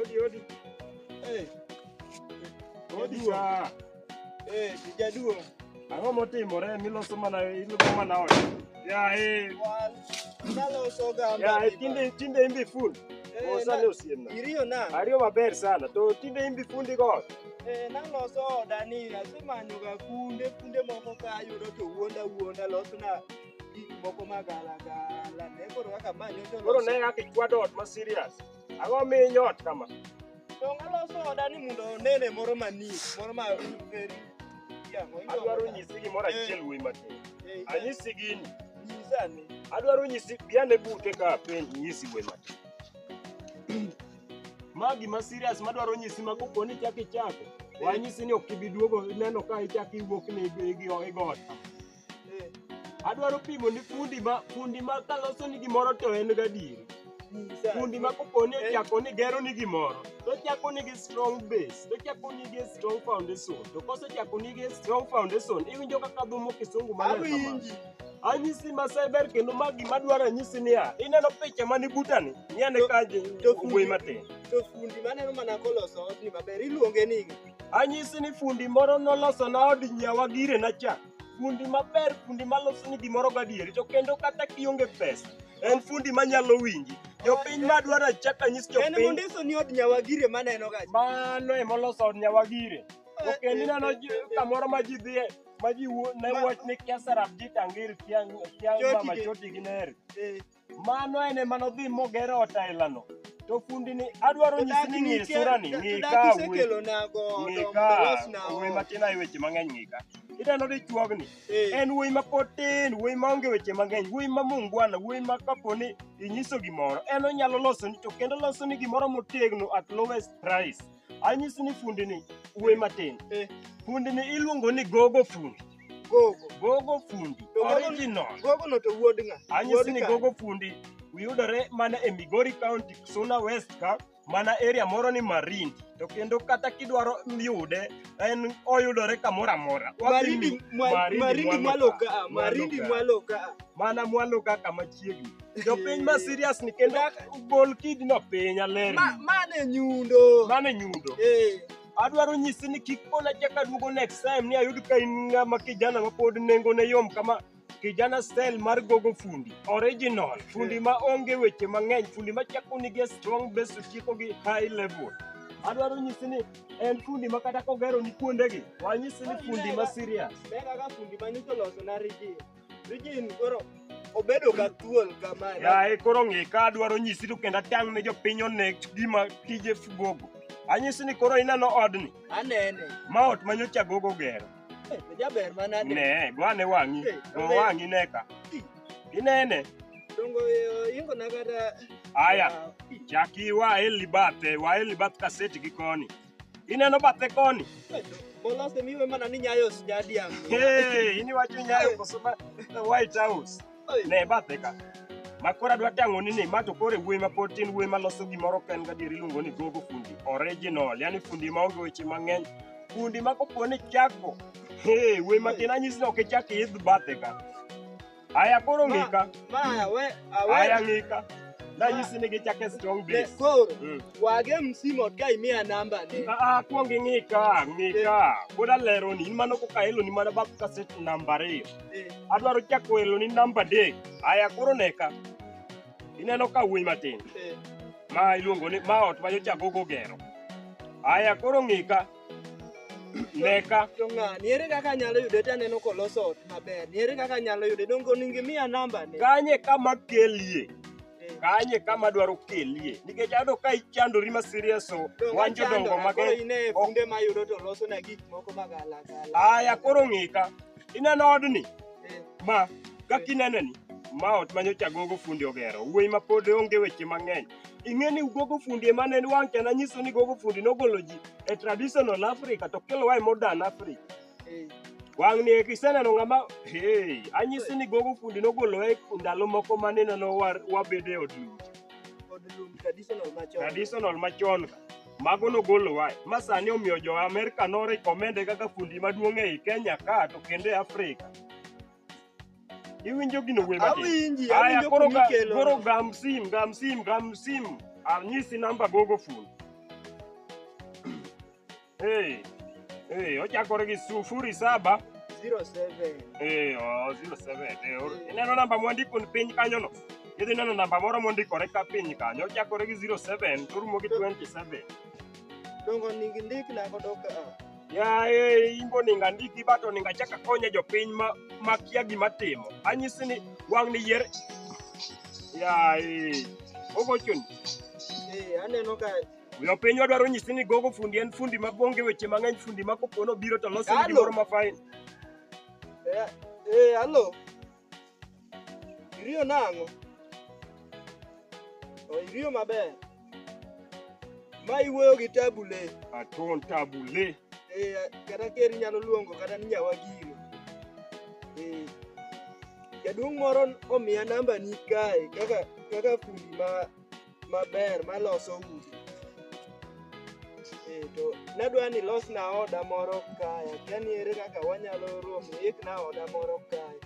Odi, odi. Eh, Odi cha. eh, sijaduo. Ang'o motimore miloso mana ilugo mana ot. Ya eh. Wan, naloso gamba. Ya eh, tinde tinde imbi full. Eh, Osane na- osiemna. Iriyo na. Ariyo maber sana to tinde imbi fundi go. Eh, naloso oda ni asemanyoga kunde kunde moko ka ayudo to wuonda wuonda losna gik moko magalagala ne koro kaka ma nyocha Koro oloso. ne kaka ikwado ot ma serious. Ang'o minyo ot kama? Donge aloso oda ni mondo onene moro manie moro ma very yango Adwaro nyisi gimoro achiel wuoyi matin. Anyisi gini. nyisa ni Adwaro nyisi biane bute ka piny nyisi wuoyi matin. Ma gima serious madwaro nyisi ma kopo ni chak ichako. Wanyisi ni ok ibi duogo neno ka ichak iwuok ni igo igo ot. Adwaro pimo ni fundi ma fundi ma kaloso ni gimoro to en gadieri. Fundi ma kopo ni ochako ni gero ni gimoro, to ochako ni gi strong base, to ochako ni gi strong foundation. To kosechako ni gi strong foundation, iwinjo kaka dhumo kisungu maler kamano. Awinji. Anyisi ma cyber kendo ma gima dwaro anyisi niya, ineno picha mani butani, nyane To- kaje to fundi- wuoyi matin. To fundi maneno mana koloso odni maber iluonge ni Anyisi ni fundi moro noloso na od nyawa gire na cha. fundi maber fundi maloso ni gimoro gadieri to kendo kata kionge pesa en fundi manyalo winji jopiny madwaro achak anyis En jopiny mondiso ni od nyawagire maneno ga. mano ema oloso od nyawagire to kendo ineno ji- kamoro ma ji dhiye ma ji wuo- ne wach ni kesarab ji tangiri kiang' kiang' Chotigi. mama chotigi neri Eh, Mano en ema nodhi moger ot ailano. To fundini adwaro nyisi ni ng'e surani, ng'e ka wuoyi. Isekelonago Ng'e dongo ka losna wuoyi ot. matin ae weche mang'eny ng'e ka. Ineno dichuogni, Eh, en wuoyi ma pod tin, wuoyi ma onge weche mang'eny, wuoyi ma mungwana, wuoyi ma kapo ni inyiso gimoro, en onyalo losoni, to kendo losoni gimoro motegno at lowest price. Anyisi ni fundini, wuoyi matin. Eh. Fundini iluongo ni gogo fundi. Gogo. Gogo fundi. To gogo- Original. Gogo no to wuod ng'a? Anyisi Wuod ni ka. gogo fundi yudore mana e Migori County, Suna West ka mana area moro ni Marindi. To kendo kata kidwaro yude en oyudore kamoro amora. Wadhi Marindi mi- mwa- Marindi Marindi mwalo mwalo ka. ka, Marindi Mwalo ka. mwalo ka. Mana mwalo ka kama chiegni. Jopiny ma serious ni kendo gol kidno piny aler. Ma mane nyundo. Mane nyundo. Eh. Adwaro nyisi ni kik pona chaka duogo next time ni ayud ka in ng'ama kijana ma pod nengone yom kama kijana style mar gogo fundi original fundi ma onge weche mang'eny fundi ma chako nigi a strong base to tieko gi high level adwaro nyisi ni en fundi ma kata kogero ni kuondegi wanyisi ni fundi ma serious Mega ka fundi manyiso loso na rigi. Eugene koro obedo ka thuol kama. Yaye koro ng'e ka adwaro nyisi to kendo atang' ne jopiny onek gima tije gogo. Anyisi ni koro ineno odni. Anene. Ma ot ma nyocha gogo gero. Eh, to jaber mana de. Ne, go ane wang'i. Eh, Go eh. wang'i ne ka. Eh. Inene. Dongo eh, ingo na kata Aya. Ah, eh. Chaki wa e libate, wa e libat kaseti gi koni. Ineno bathe koni? Molose miwe mana ni nyayo os jadi yangu. Hey, ini wacho nyayo koso ma the White House. Ne bathe ka. Ma koro adwa tang'oni ni ma to koro e wuoyi ma pod tin wuoyi ma loso gimoro ka en gadier iluongo ni gogo fundi original, yani fundi ma onge weche mang'eny. Fundi ma kopo ni chako, hey, wuoyi matin anyisi ni ok ichak iidh bathe ka. Aya koro ng'ika. Maya we Aya awe ng'ika. Nanyisi ni gichake strong base. koro Mm. wage msimo ka imiya namba ne. Ah, ah, kuong ing'ika, ng'ika. Pod aleroni, in mano koka eloni mana bab kaset namba ariyo. Eh, Adwaro chako eloni namba adek. Aya koro neka. Ineno ka wuoyi matin. eh. Ma iluongo ni ma ot ma jochago gogero. Aya koro ng'ika. Neka. To ng'ani ere kaka anyalo yude to aneno koloso ot maber. Ni ere kaka anyalo yude? Dongo onego imiya namba ne. Kanye kama kelie. Eh. Kanye kama dwaro kelie. Nikech ado ka ichandori ma serious o. Dongo Wan achando jodongo na, koro mage. ine Ok. funde mayudo to loso na gik moko magala gala. Aya koro ng'ika. Ineno odni? Eh, Ma. Kaka ineneni. Ma ot manyocha gogo fundi ogero. Wuoyi ma pod onge weche mang'eny. ing'e ni gogo fundi ema ne wang' kendo anyiso ni gogo fundi nogolo ji e traditional africa to kelo wae modern africa Eh. wang' ni eki iseneno ng'ama hey, anyisi ni gogo fundi nogolo wae ndalo moko mane neno wa- wabedo e od lucha Kod lum traditional machon. traditional machon ka mago nogolo wae ma sani omiyo jo amerika norekomende kaka fundi maduong' ei kenya ka to kendo e afrika Iwinjo gino wuoyi matin. Awinji, Aya awinjo koro ga, kumikelo. koro gam sim, gam sim, gam sim. Anyisi namba gogo fun. hey, hey, ochakore gi sufuri saba. 07. Eh, oh, 07. Eh, or- ineno namba mwandiko ni piny kanyono idhi neno namba moro mondikore ka piny kanyo ochakore gi 07 to orumo gi 27 Dongo nigi ndik na godo ka. Yaye, in boningo andiki but oningo achak akonye jopiny ma makia gima timo. Anyisi ni wang' ni yier. Yaye, ogochoni. Eh, aneno ka Yo pinywa dwaro nyisi ni gogo fundi en fundi ma bonge weche mang'eny fundi ma kopono biro to loso Kalo. gimoro ma fine. eh, eh, hello. Iriyo nang'o? O, Iriyo maber. Ma iwuoyo gi tabu le. Aton tabu le. Eh, kata ker inyalo luongo kata ni nyawagiro. Eh, jaduong' moro omiya nambani kae kaka kaka fundi ma maber maloso udi. Eh, to nadwa ni losna oda moro kae, akia ni ere kaka wanyalo romo, ikna oda moro kae.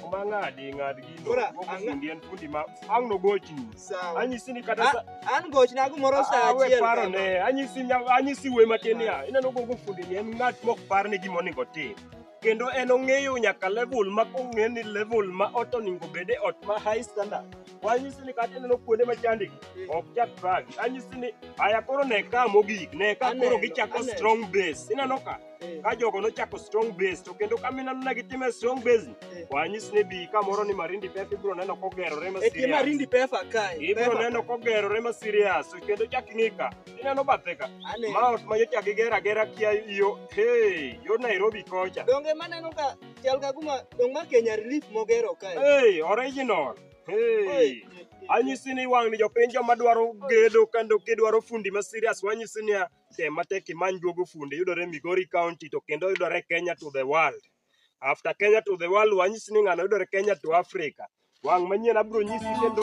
Kuma ng'adi ng'ad gino. Kora, Moko ang'a- fundi en fundi ma ang' nogochni. Sawa. Anyisi ni kata sa A- An gochna gimoro sa Ah, we achiel. paro kama. ne anyisi nya- anyisi we matin ya ineno gogo fundi ni en ng'at mok par ni gima onego otim kendo en ong'eyo nyaka level ma kong'e ni level ma ot onego bede ot ma high standard wanyisi ni kata ineno kuonde ma chandi ok chak bag anyisi ni aya koro ne ka mogik ne ka koro gichako strong base ineno ka ka jogo nochako strong base to kendo ka mineno ne gitime strong base wanyisi ni bi kamoro ni marindi pep ibiro neno kogerore ma serious marindi pefa kae ibiro neno kogerore ma serious to kendo chak ing'i ka ineno bathe ka ma ot ma nyocha gigera gera kia yo hey yo nairobi kocha donge maneno ka Chal ka kuma dong ma Kenya relief mogero kae. Hey, original. Hey. Anyisi ni wang' ni jopiny joma dwaro gedo kendo kidwaro fundi ma serious wanyisi ni tem matek imany duogo fundi yudore Migori County to kendo yudore Kenya to the world. After Kenya to the world wanyisi ni ng'ano yudore Kenya to Africa. Wang' manyien abro nyisi kendo.